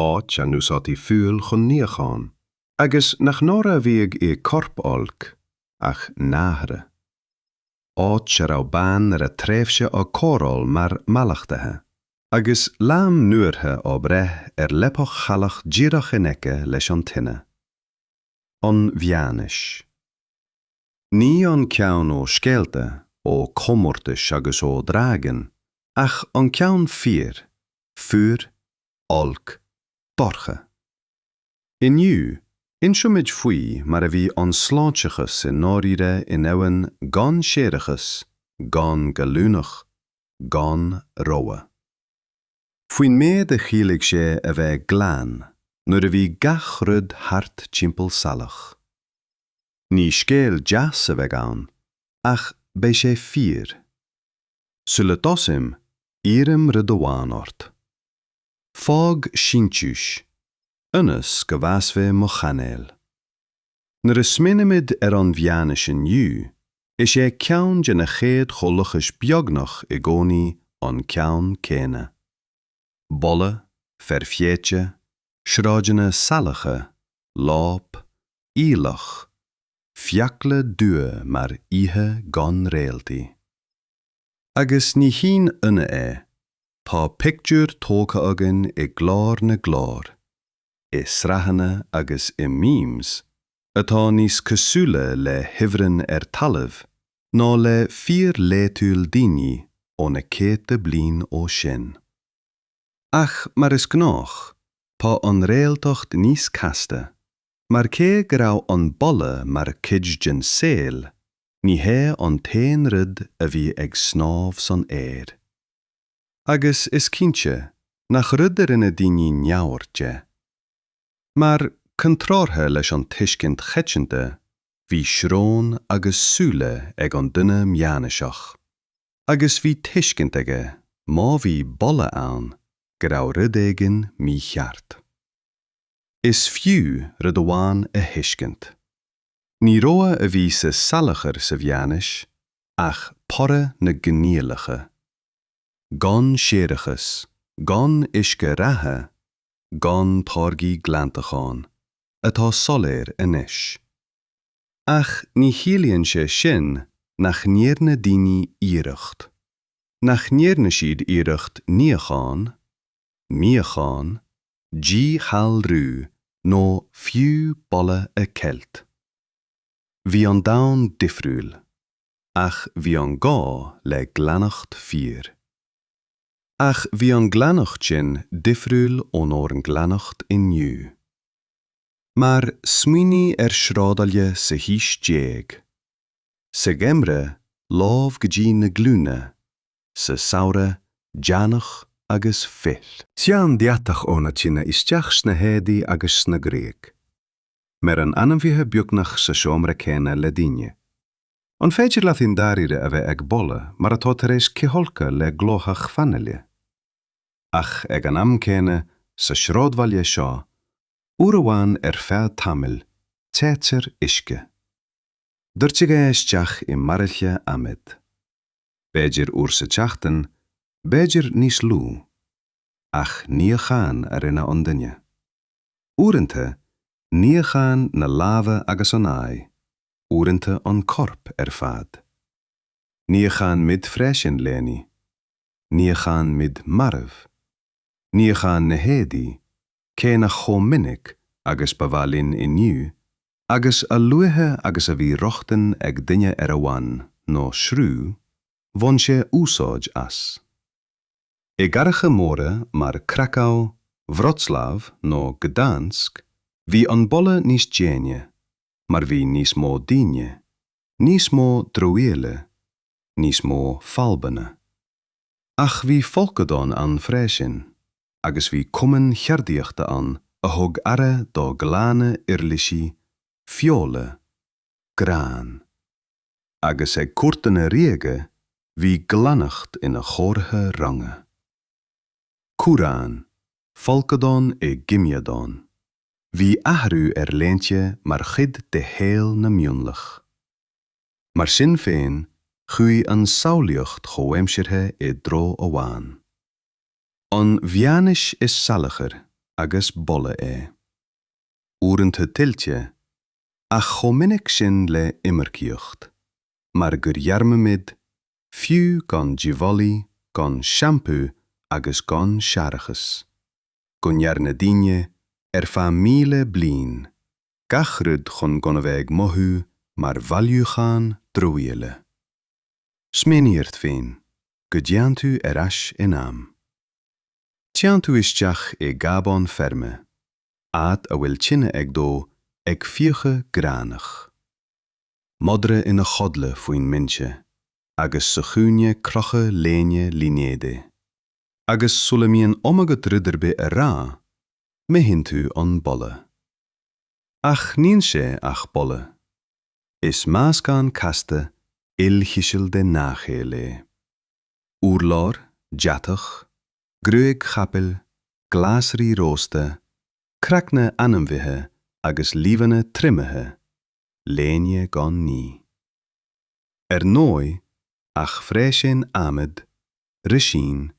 áit a n-úsáidtí fual chun níocháin, agus nach náire a bhíodh i 'corp olc', ach náire. Áit a raibh bean ar a tréimhse á cóireáil mar 'mallachtaithe', agus 'leanbh nuabheirthe' á bhreith ar leapacha shalach díreach in aice leis an tine. An Mheánaois. Ní an ceann ó scéalta, ó chomórtais agus ó dhragain, ach an ceann fíor, fuar, olc, dorcha. Inniu, inseoimid faoi mar a bhí an sláinteachas i ndáiríre i ndomhan gan séarachas, gan gallúnach, gan rogha. Faoin méid a chiallaigh sé a bheith glan nuair a bhí gach rud thart timpeall salach. Ní scéal deas a bheidh ann, ach beidh sé fíor. Sula dtosaím, iarraim rud amháin ort. Fág síntiús, ionas go bhfásfaidh mo chainéal. Nuair a smaoinimid ar an Mheánaois inniu, is é ceann de na chéad chomhlachais beagnach i gcónaí an ceann céanna. Boladh, feir théite, sráideanna salacha, láib, aoileach, fiacla dubha mar oíche gan réaltaí. Agus ní haon ionadh é, tá pictiúr tógtha againn i gclár na gclár, i sraitheanna agus i memes, atá níos cosúla le hifreann ar talamh ná le fíorlaethúil daoine ó na céadta bliain ó sin. Ach mar is gnách, tá an réaltacht níos casta, Mar cé go raibh an boladh mar chuid den saol, ní hé an t-aon rud a bhí ag snámh san aer. Agus is cinnte nach rud a rinne daoine neamhaird de. Mar, contrártha leis an tuiscint choitianta, bhí srón agus súile ag an duine meánaoiseach. Agus bhí tuiscint aige, má bhí boladh ann, go raibh rud éigin mícheart. Is fiú rud amháin a thuiscint. Ní rogha a bhí sa salachar sa mheánaois ach toradh na gcoinníollacha. Gan séarachas, gan uisce reatha, gan táirgí glantacháin, atá soiléir anois. Ach ní chiallaíonn sé sin nach ndearna daoine iarracht. Nach ndearna siad iarracht níochán? níochán, díghalrú nó fiú boladh a cheilt. Bhí an domhan difriúil, ach bhí an gá le glaineacht fíor. Ach bhí an glaineacht sin difriúil ónár nglaineacht inniu. Mar smaoinigh ar shráidbhaile sa haois déag. Sa gheimreadh, láib go dtí na glúine, sa samhradh deannach agus cuil. Téann deatach ó na tinte isteach sna héadaí agus sa ghruaig. Maireann ainmhithe beagnach sa seomra céanna le daoine. An féidir leat i ndáirire a bheith ag boladh mar atá tar éis cithfholcadh le glóthach fanaile? Ach ag an am céanna, sa sráidbhaile seo, uair amháin ar feadh tamaill, téitear uisce. Doirtear é isteach i mbairille adhmaid. b'fhéidir uair sa tseachtain, b'fhéidir níos lú, ach níochán a rinne an duine. Uaireanta, níochán na láimhe agus an aghaidh, uaireanta an corp ar fad. Níochán mid freisin leanaí. Níochán mid marbh. níochán na héadaí, cé nach chomh minic agus ba mhaith linn inniu, agus a luaithe agus a bhí rochtain ag duine ar abhainn nó sruth, bhain sé úsáid as. I gcathracha móra mar Krakow, Wroclaw nó Gdansk, bhí an boladh níos déine, mar bhí níos mó daoine, níos mó dramhaíola, níos mó fadhbanna. Ach bhí folcadán ann freisin, agus bhí cumainn cheardaíochta ann a thug aire do glanadh uirlisí, feola, gráin. Agus ag cúirteanna ríoga bhí glaineacht ina chomhartha ranga. Cumhráin, folcadán i gcoimeádán. Bhí athrú ar léinte mar chuid de shaol na mionlach. Mar sin féin, chuaigh an tsamhlaíocht chomhaimseartha i dtreo amháin. An mheánaois is salachar agus boladh é. Uaireanta tuillte, ach chomh minic sin le iomarcaíocht, mar gur dhearmaimid, fiú gan díbholaígh, gan seampú agus gan séarachas, go ndearna daoine, ar feadh míle bliain, gach rud chun gan a bheith ag mothú mar bhailiúchán dramhaíola. Smaoinigh ort féin go dtéann tú ar ais in am. Téann tú isteach i gcábán feirme, áit a bhfuil tine ag dó ag fiuchadh gránaigh. Madra ina chodladh faoin mbinse agus sa chúinne crochadh léine línéadaigh. agus sula mbíonn am agat rud ar bith a rá, mothaíonn tú an boladh. Ach níl sé ach boladh. Is meascán casta, ilchiseal de ngach éil é. Urlár, deatach, gruaig chapaill, glasraí rósta, craicne ainmhithe agus luibheanna triomaithe, léine gan ní. Ar ndóigh, ach freisin adhmad, roisín,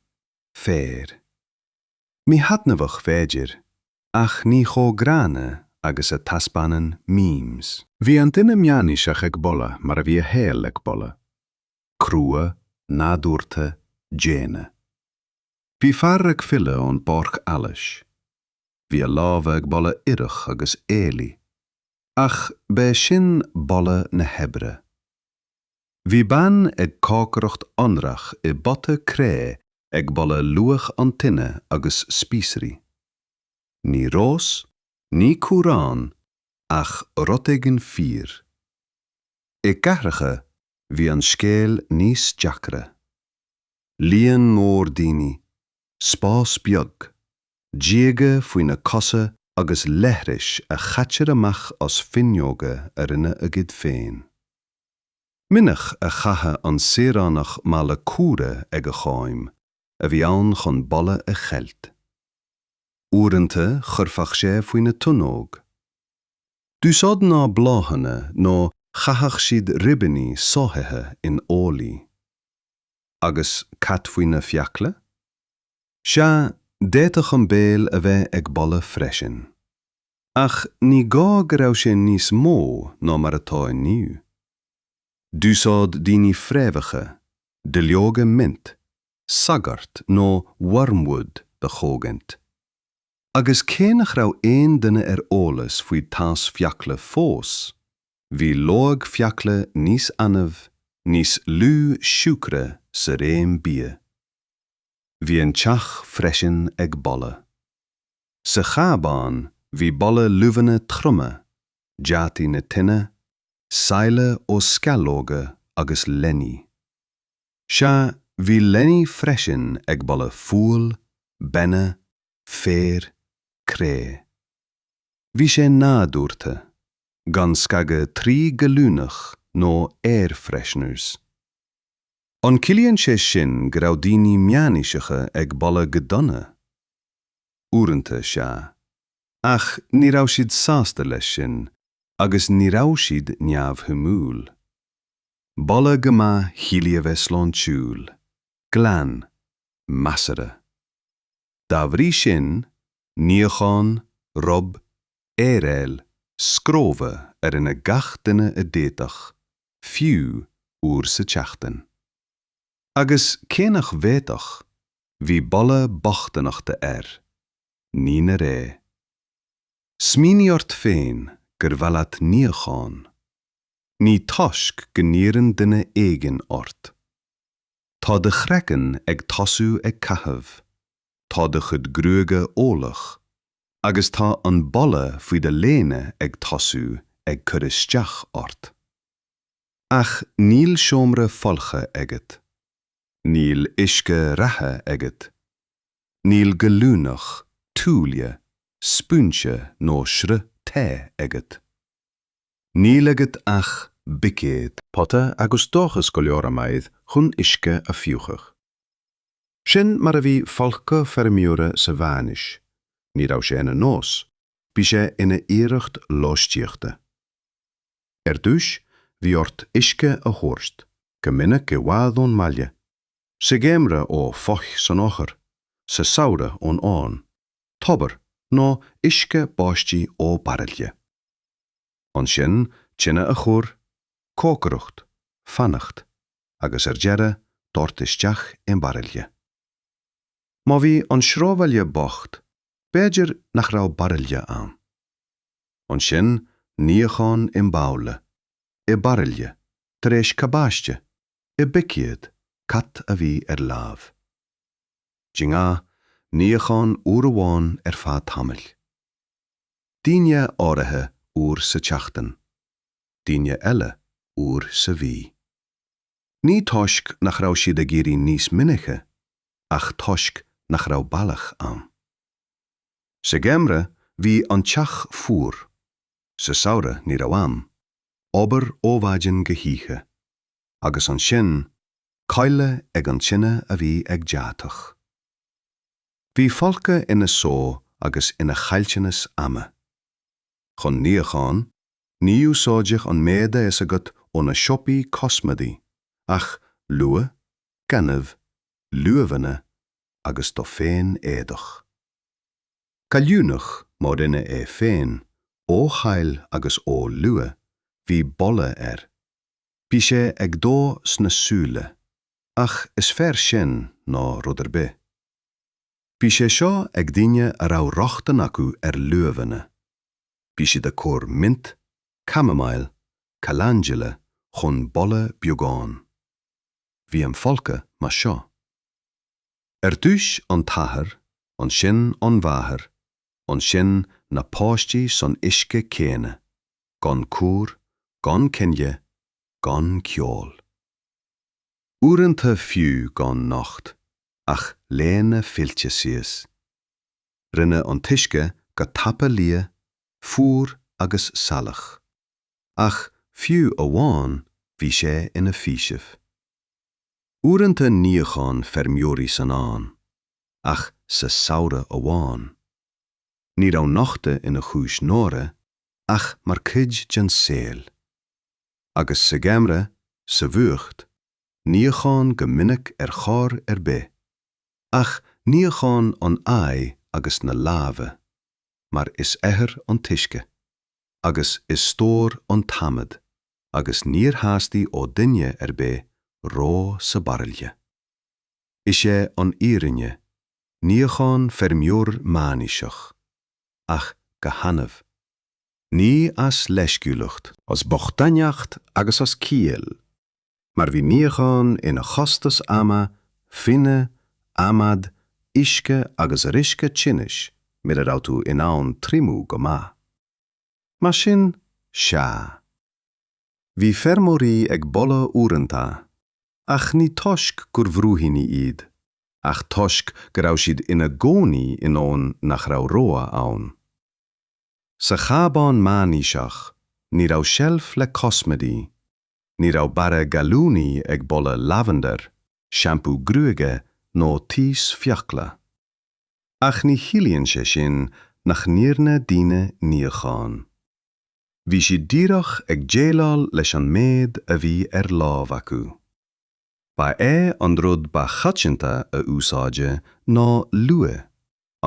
féar. Míthaitneamhach b'fhéidir, ach ní chomh gránna agus a taispeánann memes. Bhí an duine meánaoiseach ag boladh mar a bhí a shaol ag boladh. Crua, nádúrtha, daonna. Bhí fear ag filleadh ón bpáirc allais. Bhí a lámha ag boladh ithreach agus aoiligh. Ach b'é sin boladh na hoibre. Bhí bean ag cócaireacht anraith i bpota cré ag boladh luaith an tine agus spíosraí. Ní rós, ní cumhrán, ach rud éigin fíor. I gcathracha bhí an scéal níos deacra. Líon mór daoine, spás beag. díoga faoi na cosa agus leithris a chaitear amach as fuinneoga a rinne a gcuid féin. Minic a chaitheadh an saoránach mála cumhra ag a choim, a bhí ann chun boladh a cheilt. Uaireanta chuirfeadh sé faoi na tonóg. D'úsáid mná bláthanna nó chaitheadh siad ribíní sáithithe in olaí. Agus cad faoi na fiacla? Sea, d'fhéadfadh an béal a bheith ag boladh freisin. Ach ní gá go raibh sé níos mó ná mar atá inniu. D'úsáid daoine fréamhacha duilleoga mint, sagart nó wormwood a chogaint. Agus cé nach raibh aon duine ar eolas faoi taos fiacla fós, bhí loig fiacla níos annamh, níos lú siúcra sa réim bia. Bhí an teach freisin ag boladh. Sa chábán bhí boladh luibheanna troma, deataigh na tine, saille ó sceallóga agus leanaí. Sea, bhí leanaí freisin ag boladh fual, bainne, féir, cré. Bhí sé nádúrtha, gan scagadh trí ghallúnach nó air fresheners. An gciallaíonn sé sin go raibh daoine meánaoiseacha ag boladh go dona? Uaireanta, sea. Ach ní raibh siad sásta leis sin, agus ní raibh siad neamhshuimiúil. Boladh go maith chiallaigh a bheith sláintiúil, glan, measartha. Dá bhrí sin, níochán, rub, aeráil, scróbha a rinne gach duine a d'fhéadfadh, fiú uair sa tseachtain. Agus cé nach bhféadfadh, bhí boladh bochtaineachta air. Ní na ré. Smaoinigh ort féin gur mhaith leat níochán. Ní toisc go n-iarrann duine éigin ort. Tá do chraiceann ag tosú ag caitheamh, tá do chuid gruaige olach, agus tá an boladh faoi do léine ag tosú ag cur isteach ort. Ach níl seomra folctha agat. Níl uisce reatha agat. Níl gallúnach, tuáille, spúinse nó sruth te agat. Níl agat ach buicéad. pota agus dóchas go leor adhmaid chun uisce a fiuchadh. Sin mar a bhí folcadh feirmeora sa mheánaois. Ní raibh sé ina nós, bhí sé ina iarracht lóistíochta. Ar dtús, bhí ort uisce a thabhairt, go minic i bhfad ón mbaile, sa gheimhreadh ó pholl san oighear, sa samhradh ón abhainn. tobar nó uisce báistí ó baraille. Ansin tine a chur, cócaireacht, fanacht, agus ar deireadh doirt isteach i mbaraille. Má bhí an sráidbhaile bocht, b'fhéidir nach raibh baraille ann. Ansin níochán i mbabhla, i baraille, tar éis cabáiste, i mbuicéad, cad a bhí ar láimh. Rinneadh níochán uair amháin ar feadh tamaill. Daoine áirithe uair sa tseachtain, daoine eile uair sa mhí. Ní toisc nach raibh siad ag iarraidh níos minice ach toisc nach raibh bealach ann. Sa gheimhreadh bhí an teach fuar, sa samhradh ní raibh am, obair ó mhaidin go hoíche. agus ansin codladh ag an tine a bhí ag deatach. Bhí folcadh ina só agus ina chaillteanas ama. Chun níocháin, ní úsáideadh an méid a fhios agat ó na siopaí cosmaidí ach luaith, gaineamh, luibheanna agus do féin éadach. Gallúnach má rinneadh é féin, ó shaill agus ó luaith, bhí boladh air. Bhí sé ag dó sna súile, ach is fearr sin ná rud ar bith. Bhí sé seo ag daoine a raibh rochtain acu ar luibheanna. Bhí siad ag cur mint, chamomile, calendula chun boladh beagán. Bhí an folcadh mar seo. Ar dtús an t-athair, ansin an mháthair, ansin na páistí san uisce céanna. gan cúr, gan coinnle, gan ceol. Uaireanta fiú gan nocht, ach léine fillte síos. Rinne an t-uisce go tapa liath, fuar agus salach. Ach fiú amháin bhí sé ina fhaoiseamh. Uaireanta níochán feirmeoirí san abhainn, ach sa samhradh amháin. Ní raibh nochtadh ina chúis náire, ach mar cuid den saol. Agus sa gheimreadh, sa bhfuacht, níochán go minic ar chor ar bith, ach níochán an aghaidh agus na lámha, mar is oighear an t-uisce, agus is stór an t-adhmad, agus níor theastaigh ó dhuine ar bith reo sa baraille. Is é an fhírinne, níochán feirmeoir meánaoiseach, ach go hannamh. Ní as leisciúlacht. As bochtaineacht agus as ciall, mar bhí níochán ina chostas ama, fuinnimh, adhmad, uisce agus riosca tinnis mura raibh tú in ann triomú go maith. Mar sin, sea. Bhí feirmeoirí ag boladh uaireanta, ach ní toisc gur bhrúidíní iad, ach toisc go raibh siad ina gcónaí i ndomhan nach raibh rogha ann. Sa chábán meánaoiseach, ní raibh seilf le cosmaidí, ní raibh barra gallúnaí ag boladh lavender, seampú gruaige nó taos fiacla. Ach ní chiallaíonn sé sin nach ndearna daoine níochán. Bhí siad díreach ag déileáil leis an méid a bhí ar láimh acu. Ba é an rud ba choitianta a úsáideadh ná luaith,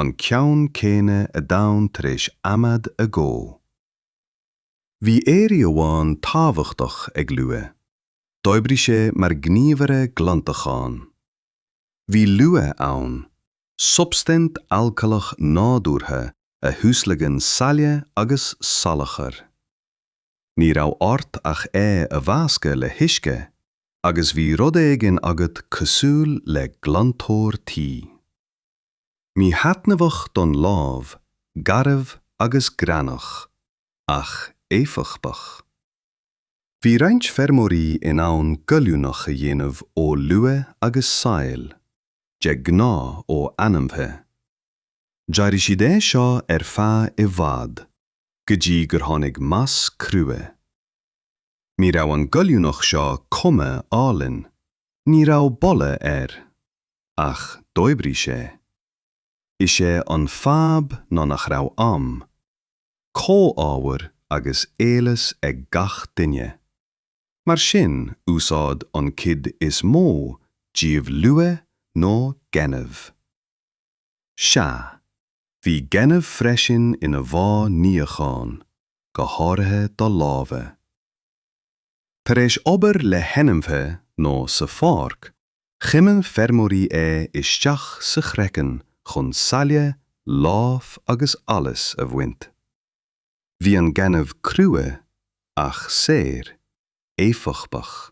an ceann céanna a d'fhan tar éis adhmad a dhó. Bhí airí amháin tábhachtach ag luaith, d'oibrigh sé mar ghníomhaire glantacháin. Bhí luaith ann, substaint alcaileach nádúrtha a thuaslagann saill agus salachar. Ní raibh ort ach é a mheascadh le huisce agus bhí rud éigin agat cosúil le glantóir tí. Míthaitneamhach don lámh, garbh agus greannach, ach éifeachtach. Bhí roinnt feirmeoirí in ann gallúnach a dhéanamh ó luaith agus saill, de ghnáth ó ainmhithe. D'éirigh siad é seo ar feadh i bhfad, go dtí gur tháinig mais crua. Ní raibh an gallúnach seo cuma álainn, ní raibh boladh air, ach d'oibrigh sé. Is é an fadhb ná nach raibh am. comhábhair agus eolas ag gach duine. Mar sin úsáid an cuid is mó díobh luaith nó gaineamh. Sea, bhí gaineamh freisin ina mhodh níocháin, go háirithe do lámha. Tar éis obair le hainmhithe nó sa pháirc, Chuimil feirmeoirí é isteach sa chraiceann chun saille, láib agus allas a bhaint. Bhí an gaineamh crua ach saor, éifeachtach,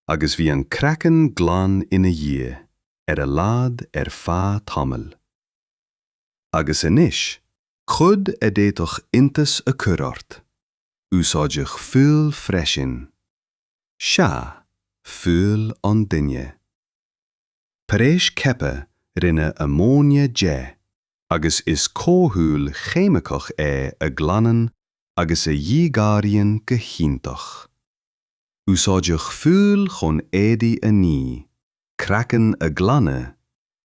agus bhí an craiceann glan ina dhiaidh, ar a laghad ar feadh tamaill. Agus anois? Rud a d'fhéadfadh iontas a chur ort? Úsáideadh fual freisin. Sea, fual an duine. Tar éis coipthe rinneadh amóinia de agus is comhdhúil cheimiceach é a ghlanann agus a dhíghalraíonn go hiontach. Úsáideadh fual chun éadaí a ní, craiceann a ghlanadh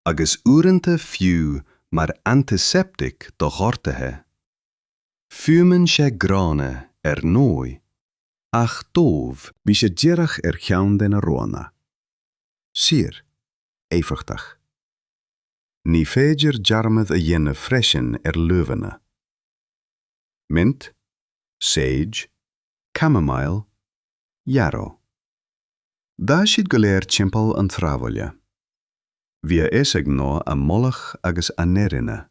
agus uaireanta fiú mar antiseptic do ghortuithe. Fuaimeann sé gránna, ar ndóigh, ach dóibh. Bhí sé díreach ar cheann de na roghanna. Saor. Éifeachtach. Ní féidir dearmad a dhéanamh freisin ar luibheanna. Mint? Sage? Camomile? Yarrow? D'fhás siad go léir timpeall an tsráidbhaile. Bhí a fhios ag mná a mboladh agus a n-airíonna.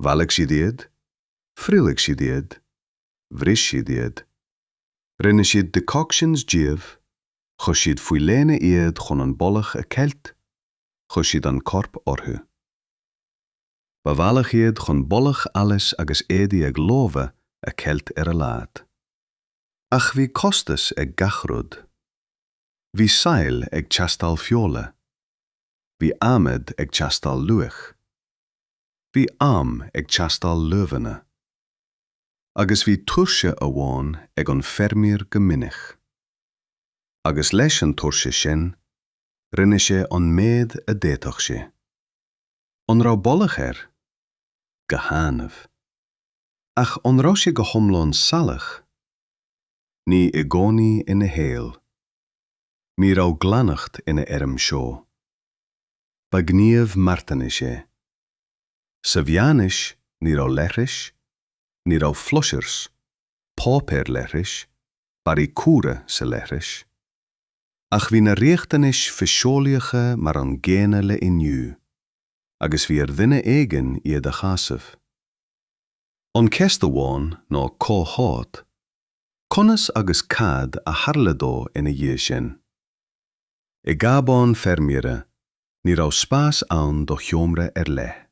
Bhailigh siad iad, thriomaigh siad iad, bhris siad iad, rinne siad decoctions díobh, chuir siad faoi léine iad chun an boladh a cheilt, chuir siad an corp orthu. Ba bhealach iad chun boladh allais agus éadaí ag lobhadh a cheilt ar a laghad. Ach bhí costas ag gach rud. Bhí saill ag teastáil feola. Bhí adhmad ag teastáil luaith. Bhí am ag teastáil luibheanna. agus bhí tuirse amháin ag an feirmeoir go minic. Agus leis an tuirse sin, rinne sé an méad a d'fhéadfadh sé. An raibh boladh air? Go hannamh. Ach an raibh sé go hiomlán salach? Ní i gcónaí ina shaol. Ní raibh glaineacht ina fheirm seó. Ba ghníomh marthanais sé. Sa mheánaois ní raibh leithris, ní raibh flushers, páipéar leithris, barraí cumhra sa leithreas. Ach bhí na riachtanais fiseolaíocha mar an gcéanna le inniu, agus bhí ar dhuine éigin iad a shásamh. An cheist amháin ná cá háit, conas agus cad a tharla dó ina dhiaidh sin. I gcabán feirmeora, ní raibh spás ann do sheomra ar leith.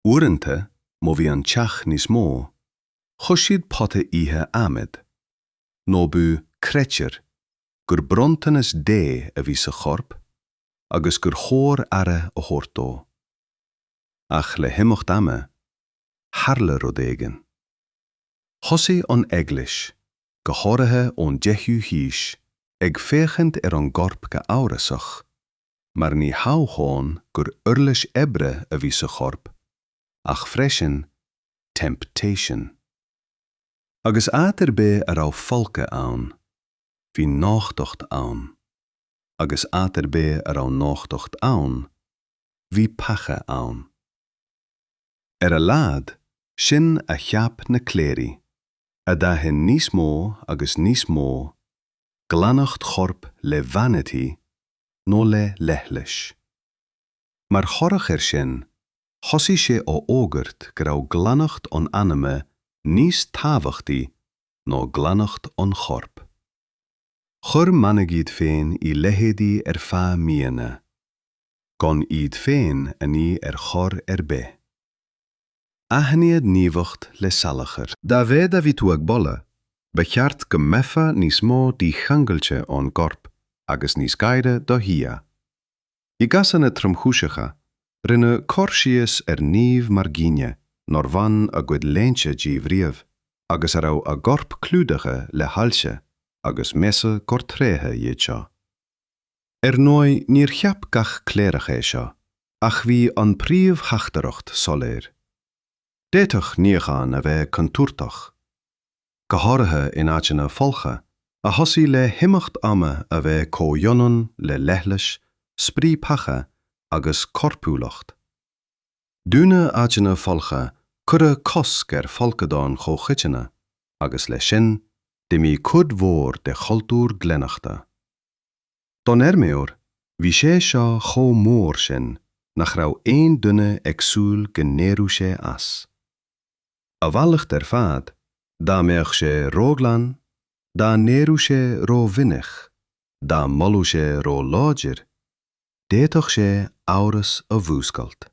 Uaireanta, má bhí an teach níos mó, chuir siad pota oíche adhmaid, nó b'fhiú, creidtear, gur bronntanas Dé a bhí sa chorp agus gur chóir aire a thabhairt dó. Ach le himeacht ama, tharla rud éigin. Thosaigh an Eaglais, go háirithe ón 10ú haois, ag féachaint ar an gcorp go amhrasach, mar ní hamháin gur uirlis oibre a bhí sa chorp, ach freisin, temptation. Agus áit ar bith a raibh folcadh ann, bhí nochtacht ann, agus áit ar bith a raibh nochtacht ann, bhí peaca ann. Ar a laghad, sin a cheap na cléirigh, a d'aithin níos mó agus níos mó glaineacht choirp le vanity nó le leithleas. Mar thoradh air sin, thosaigh sé á fhógairt go raibh glaineacht an anama níos tábhachtaí ná glaineacht an choirp. Chuir manaigh iad féin i leithéidí ar feadh míonna. gan iad féin a ní ar chor ar bith. Aithníodh naomhacht le salachar. Dá mhéad a bhí tú ag boladh, ba cheart go mbeifeá níos mó dícheangailte ón gcorp agus níos gaire do Dhia. I gcásanna tromchúiseacha, rinneadh cur síos ar naoimh mar dhaoine nár bhain a gcuid léinte díobh riamh agus a raibh a gcorp clúdaithe le hailse, agus measadh gur tréithe iad seo. Ar ndóigh níor cheap gach cléireach é seo, ach bhí an príomhtheachtaireacht soiléir. D'fhéadfadh níochán a bheith contúirteach, go háirithe in áiteanna folctha, a thosaigh le himeacht ama a bheith comhionann le leithlis, striapacha agus corpiúlacht. Dúnadh áiteanna folctha, cuireadh cosc ar folcadáin chomhchoiteanna, agus leis sin, d'imigh cuid mhór de chultúr glaineachta. Don fheirmeoir, bhí sé seo chomh mór sin nach raibh aon duine ag súil go n-éireodh sé as. A mhalairt ar fad, dá mbeadh sé róghlan, dá n-éireodh sé rómhinic, dá mbolódh sé róláidir, d'fhéadfadh sé amhras a mhúscailt.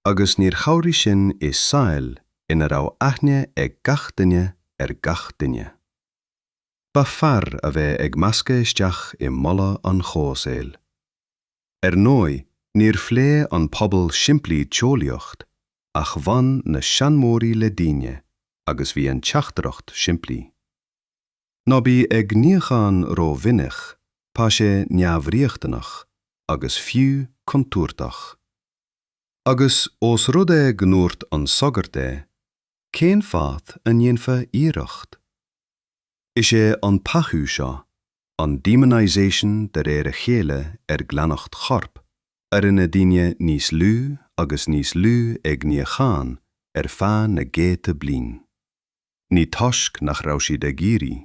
Agus níor chabhraigh sin i saol ina raibh aithne ag gach duine ar gach duine. b'fhearr a bheith ag meascadh isteach i mboladh an chomhsaoil. Ar ndóigh, níor phléigh an pobal simplí teolaíocht ach bhain na seanmóirí le daoine agus bhí an teachtaireacht simplí. Ná bí ag níochán rómhinic, tá sé neamhriachtanach agus fiú contúirteach. Agus ós rud é go ndúirt an sagart é, cén fáth a ndéanfá iarracht? Is é an peaca seo, an demonisation de réir a chéile ar glaineacht choirp, a rinne daoine níos lú agus níos lú ag níochán ar feadh na gcéadta bliain. Ní toisc nach raibh siad ag iarraidh,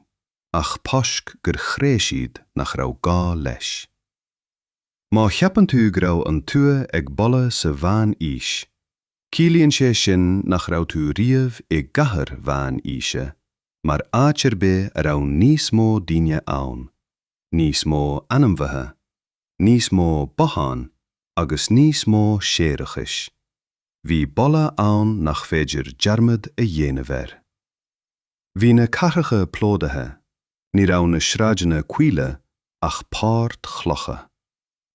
ach toisc gur chreid siad nach raibh gá leis. Má cheapann tú go raibh an tuath ag boladh sa Mheán-Aois, Ciallaíonn sé sin nach raibh tú riamh i gcathair Mheán Aoise mar áit ar bith a raibh níos mó daoine ann, níos mó ainmhithe, níos mó bothán agus níos mó séarachais. Bhí boladh ann nach féidir dearmad a dhéanamh air. Bhí na cathracha plódaithe, ní raibh na sráideanna caola ach páirt chlocha.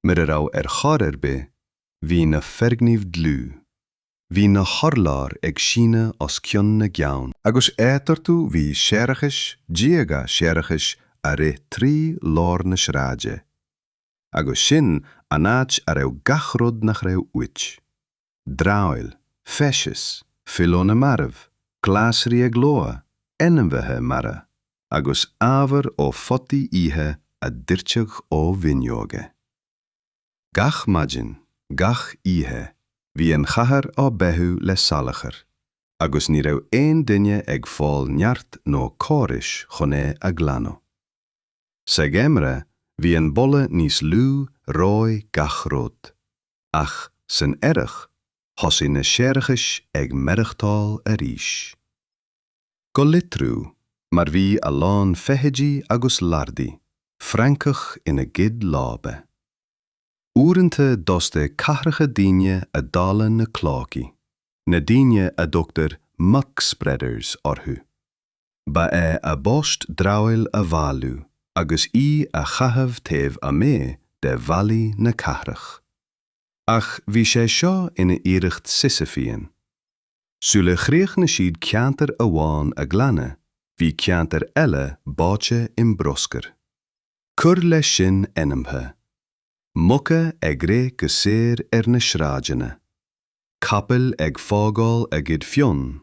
mura raibh ar chor ar bith, bhí na foirgnimh dlúth, bhí na hurláir ag síneadh os cionn na gceann, agus eatarthu bhí séarachais, díoga séarachais a rith trí lár na sráide, agus sin an áit a raibh gach rud nach raibh uait. dramhaíl, feces, fuíll na marbh, glasraí ag lobhadh, ainmhithe marbha, agus ábhar ó photaí oíche a doirteadh ó fhuinneoga. Gach maidin, gach oíche, bhí an chathair á beathú le salachar, agus ní raibh aon duine ag fáil neart nó córais chun é a ghlanadh. Sa gheimreadh bhí an boladh níos lú reoigh gach rud, ach san earrach thosaigh na séarachais ag maireachtáil arís. Go litriú, mar bhí a lán feithidí agus larbhaí, francach ina gcuid láibe. Uaireanta d'fhostaigh cathracha daoine a dháileadh na cloacaí, na daoine a dtugtar muck-spreaders orthu. Ba é a bpost dramhaíl a bhailiú agus í a chaitheamh taobh amuigh de bhallaí na cathrach. Ach bhí sé seo ina iarracht Sisyphean. Sula chríochnaigh siad ceantar amháin a ghlanadh, bhí ceantar eile báite i mbruscar. Cuir leis sin ainmhithe. Muca ag rith go saor ar na sráideanna. Capaill ag fágáil a gcuid fionn.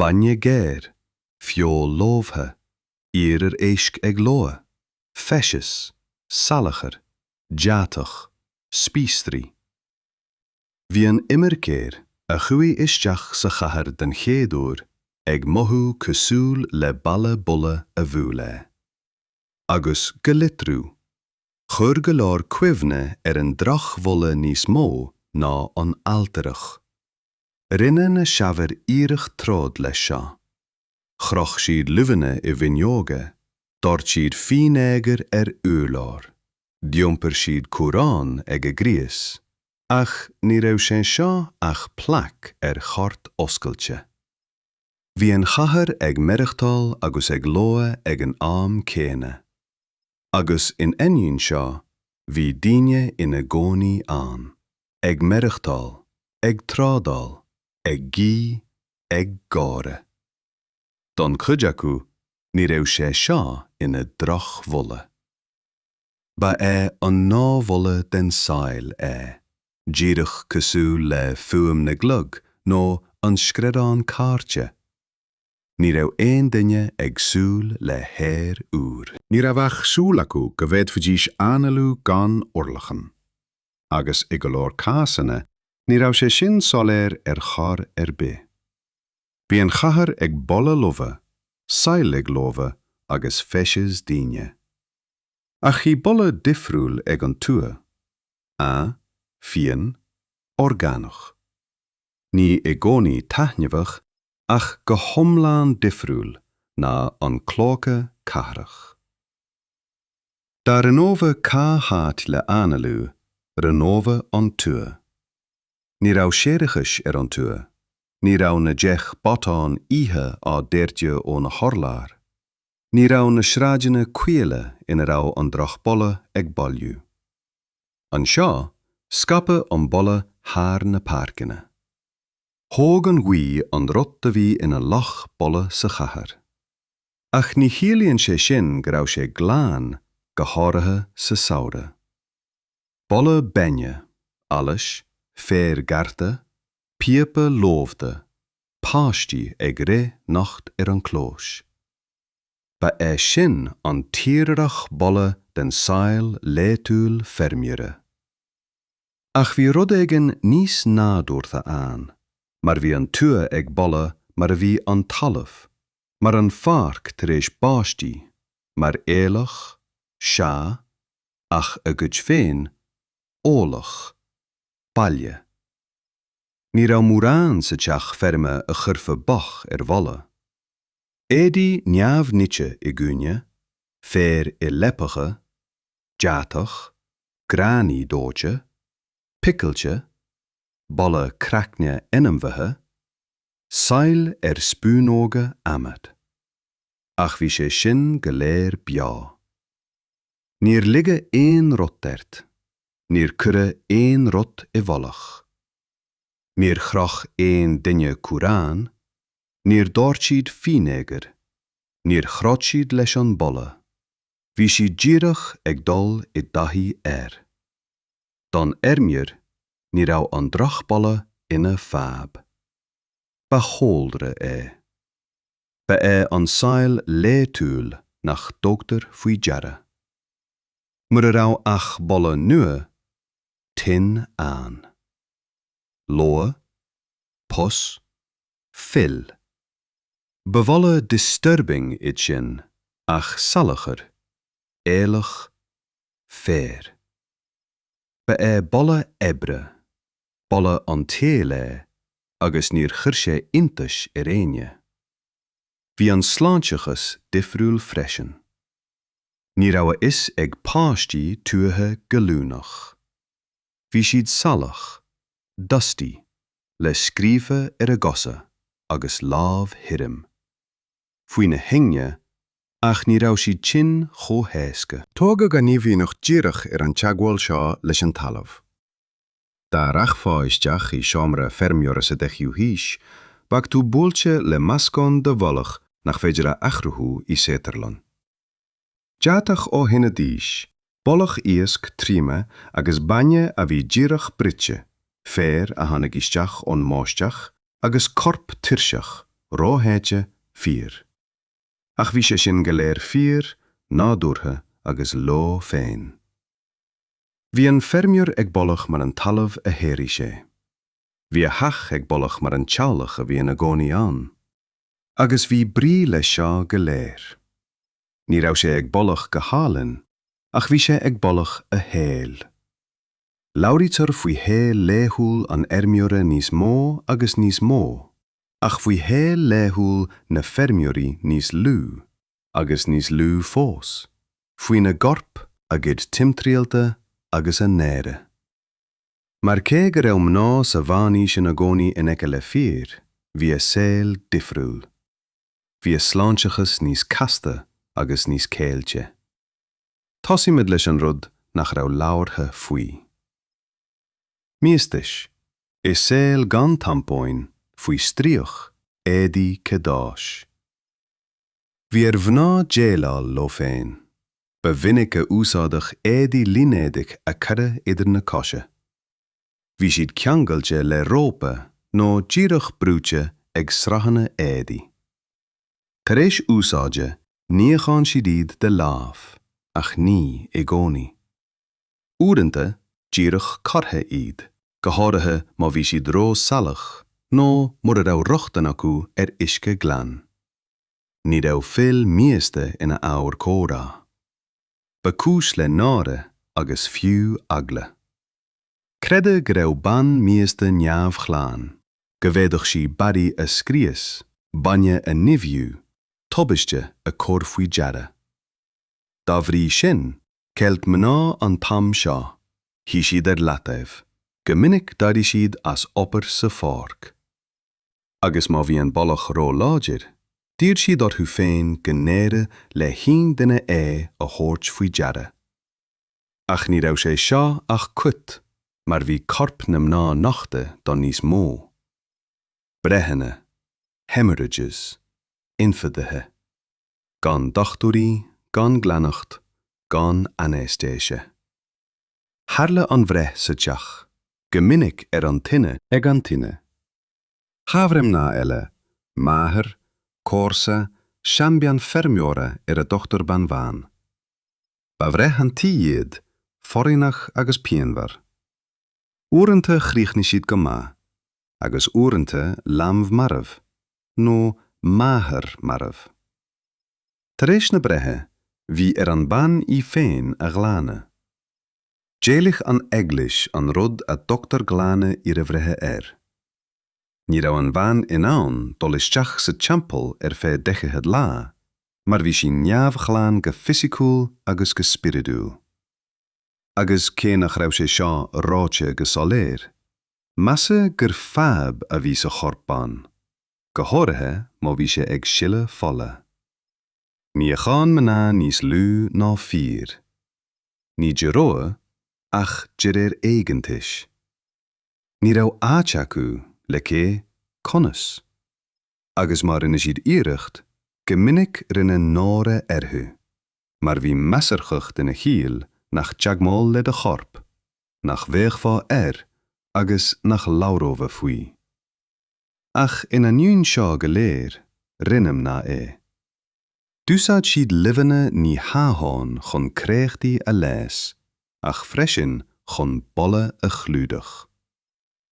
bainne géar, feoil lobhtha, iarmhair éisc ag lobhadh, feces, salachar, deatach, spíosraí. Bhí an imircéir a chuaigh isteach sa chathair den chéad uair ag mothú cosúil le balla boladh a bhuail é. Agus, go litriú, chuir go leor cuimhne ar an drochbholadh níos mó ná an ailtireacht. Rinne na saibhir iarracht troid leis seo. Chroch siad luibheanna i bhfuinneoga, dhoirt siad fínéagar ar urláir, d'iompair siad cumhrán ag a gcrios, ach ní raibh sé seo ach plaic ar chairt oscailte. Bhí an chathair ag maireachtáil agus ag lobhadh ag an am céanna. Agus in ainneoin seo, bhí daoine ina gcónaí ann, ag maireachtáil, ag trádáil, ag guí, ag gáire. Don chuid acu, ní raibh sé seo ina dhrochbholadh. Ba é an gnáthbholadh den tsaol é, díreach cosúil le fuaim na gclog nó an screadán cairte. Ní raibh aon duine ag súil le haer úr. Ní raibh ach súil acu go bhféadfaidís análú gan urlacan. Agus i go leor cásanna, ní raibh sé sin soiléir ar chor ar bith. Bhí an chathair ag boladh lofa, saill ag lobhadh agus feces daoine. Ach bhí boladh difriúil ag an tuath. Fiáin, orgánach. Ní i gcónaí taitneamhach ach go hiomlán difriúil ná an clóca cathrach. Dá roghnófá cá háit le análú, roghnófá an tuath. Ní raibh séarachais ar an tuath, ní raibh na deich botán oíche á doirteadh ó na hurláir, ní raibh na sráideanna caola ina raibh an drochbholadh ag bailiú. Anseo, scaipeadh an boladh thar na páirceanna. Thóg an ghaoth an rud a bhí ina loch boladh sa chathair. Ach ní chiallaíonn sé sin go raibh sé glan, go háirithe sa samhradh. Boladh bainne, allais, féir gearrtha, píopa lobhtha, páistí ag rith nocht ar an clós. Ba é sin an tírdhreach boladh den saol laetúil feirmeora. Ach bhí rud éigin níos nádúrtha ann, mar bhí an tuath ag boladh mar a bhí an talamh, mar an pháirc tar éis báistí, mar aoileach, sea, ach a gcuid féin, eolach, baile. Ní raibh mórán sa teach feirme a chuirfeadh bac ar bholadh. Éadaí neamhnite i gcúinne, féar i leapacha, deatach, gráinní dóite, picilte, boladh craicne ainmhithe, saill ar spúnóga adhmaid. Ach bhí sé sin go léir beo. Níor ligeadh aon rud ort, níor cuireadh aon rud i bhfolach. Níor chroch aon duine cumhrán, níor dhoirt siad fínéagar, níor throid siad leis an boladh. Bhí siad díreach ag dul i dtaithí air. Don fheirmeoir, ní raibh an drochbholadh ina fadhb. Ba chúlra é. Ba é an saol laetúil nach dtugtar faoi deara. Mura raibh ach boladh nua, tinn ann. Lobhadh? Pus? Fuil. Ba bholadh disturbing iad sin, ach salachar, aoileach, féar. Ba é boladh oibre, boladh an tsaoil é agus níor chuir sé iontais ar éinne. Bhí an sláinteachas difriúil freisin. Ní raibh a fhios ag páistí tuaithe gallúnach. Bhí siad salach, dusty, le scríoba ar a gcosa agus lámh thirim. Faoi na hingne, ach ní raibh siad tinn chomh héasca. Tógadh a n-imdhíonacht díreach ar an teagmháil seo leis an talamh. Dá rachfá isteach i seomra feirmeora sa 10ú haois, bheadh tú buailte le meascán de bholadh nach féidir a athchruthú i saotharlann. Deatach ó thine ghiúise, boladh iasc triomaithe agus bainne a bhí díreach bruite, féar a tháinig isteach ón mbáisteach agus corp tuirseach, rósháite, fir. Ach bhí sé sin go léir fíor, nádúrtha agus leo féin. Bhí an feirmeoir ag boladh mar an talamh a shaothraigh sé. Bhí a theach ag boladh mar an teaghlach a bhí ina gcónaí ann. agus bhí brí leis seo go léir. Ní raibh sé ag boladh go hálainn, ach bhí sé ag boladh a shaoil. Labhraítear faoi shaol laethúil an fheirmeora níos mó agus níos mó, ach faoi shaol laethúil na feirmeoirí níos lú agus níos lú fós, faoina gcoirp, a gcuid timthriallta agus a n-aire. Mar cé go raibh mná sa Mheánaois ina gcónaí in aice le fir, bhí a saol difriúil. Bhí a sláinteachas níos casta agus níos ceilte. Tosaímid leis an rud nach raibh labhartha faoi. Míostais, i saol gan tampóin, faoi stríoc, éadaí cadáis. Bhí ar mhná déileáil leo féin. Ba mhinic a úsáideadh éadaí línéadaigh a cuireadh idir na cosa. Bhí siad ceangailte le rópa nó díreach brúite ag sraitheanna éadaí. Tar éis úsáide níochán siad iad de láimh, ach ní i gcónaí. Uaireanta, díreach curtha iad, go háirithe má bhí siad ró-salach nó mura raibh rochtain acu ar uisce glan. Ní raibh fuil mhíosta ina ábhar comhrá. Ba cúis le náire agus fiú eagla. Creideadh go raibh bean mhíosta neamhghlan, go bhféadfadh sí barraí a scrios, bainne a nimhiú, tubaiste a chur faoi deara. Dá bhrí sin, cheil mná an t-am seo, shuigh siad ar leataobh. Go minic d'éirigh siad as obair sa pháirc. Agus má bhí an boladh ró-láidir, d'iarr siad orthu féin go n-éireodh le haon duine é a thabhairt faoi deara. Ach ní raibh sé seo ach cuid mar bhí corp na mná nochta do níos mó. Breitheanna. Hemorrhages. Ionfhabhtuithe. gan dochtúirí, gan glaineacht, gan ainéistéise. Tharla an bhreith sa teach, go minic ar an tine, ag an tine. Chabhair mná eile, máthair, comharsa, seanbhean feirmeora ar a dtugtar bean bhán. Ba bhreith an tí iad, foréigneach agus pianmhar. Uaireanta chríochnaigh siad go maith, agus uaireanta leanbh marbh, nó máthair marbh. Tar éis na breithe, bhí ar an bhean í féin a ghlanadh. D'éiligh an Eaglais an rud a dtugtar glanadh iarbhreithe air. Ní raibh an bhean in ann dul isteach sa teampall ar feadh daichead lá, mar bhí sí neamhghlan go fisiciúil agus go spioradúil. agus cé nach raibh sé seo ráite go soiléir, measadh gur fadhb a bhí sa chorp bean, go háirithe má bhí sé ag sileadh fola. Níodh mná níos lú ná fir. Ní de rogha, ach de réir éigeantais. Ní raibh áit acu, le cé, conas? agus má rinne siad iarracht, go minic rinne náire orthu, mar bhí measarthacht ina chiall nach teagmháil le do chorp, nach bhféachfá air agus nach labhrófá faoi. Ach in ainneoin seo go léir, rinne mná é. D'úsáid siad luibheanna ní hamháin chun créachtaí a leigheas ach freisin chun boladh a chlúdach.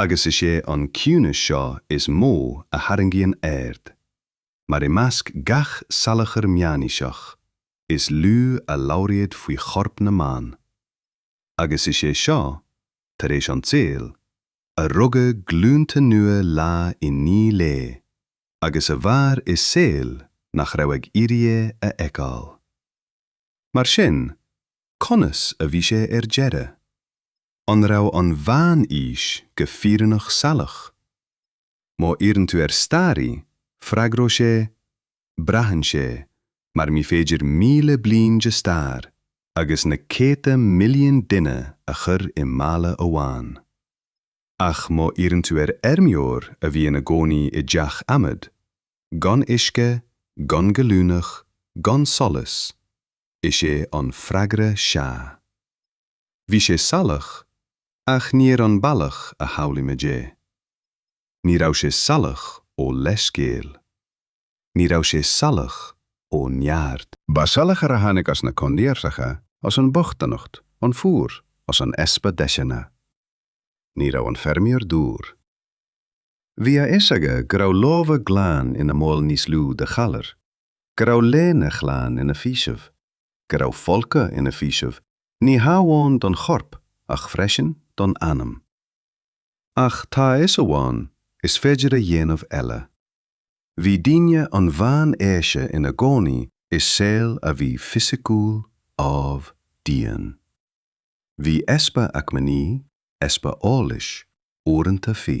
agus is é an ciúnas seo is mó a tharraingíonn aird, mar i measc gach salachar meánaoiseach, is lú a labhraíodh faoi chorp na mban. Agus is é seo, tar éis an tsaoil, a rugadh glúnta nua lá i ndiaidh lae, agus a mhair i saol nach raibh ag iarraidh é a fheiceáil. Mar sin, conas a bhí sé ar deireadh? An raibh an Mheán-Aois go fírinneach salach? Má iarrann tú ar staraí, freagróidh sé, Braitheann sé, mar ní féidir míle bliain de stair agus na céadta milliún duine a chur i mála amháin. Ach má iarrann tú ar fheirmeoir a bhí ina gcónaí i dteach adhmad, gan uisce, gan gallúnach, gan solas, is é an freagra sea. Bhí sé salach, ach ní ar an bhealach a shamhlaímid é. Ní raibh sé salach ó leithscéal. Ní raibh sé salach ó neart. Ba salachar a tháinig as na coinníollacha, as an bochtanacht, an fuar, as an easpa deiseanna. Ní raibh an feirmeoir dúr. Bhí a fhios aige go raibh lámha glana ina mbaol níos lú de ghalar, go raibh léine ghlan ina faoiseamh. go raibh folcadh ina faoiseamh ní hamháin don chorp ach freisin don anam. Ach tá a fhios amháin, is féidir a dhéanamh eile. Bhí daoine an mheánaoise ina gcónaí i saol a bhí fisiciúil, amh, dian. Bhí easpa acmhainní, easpa eolais, uaireanta fí.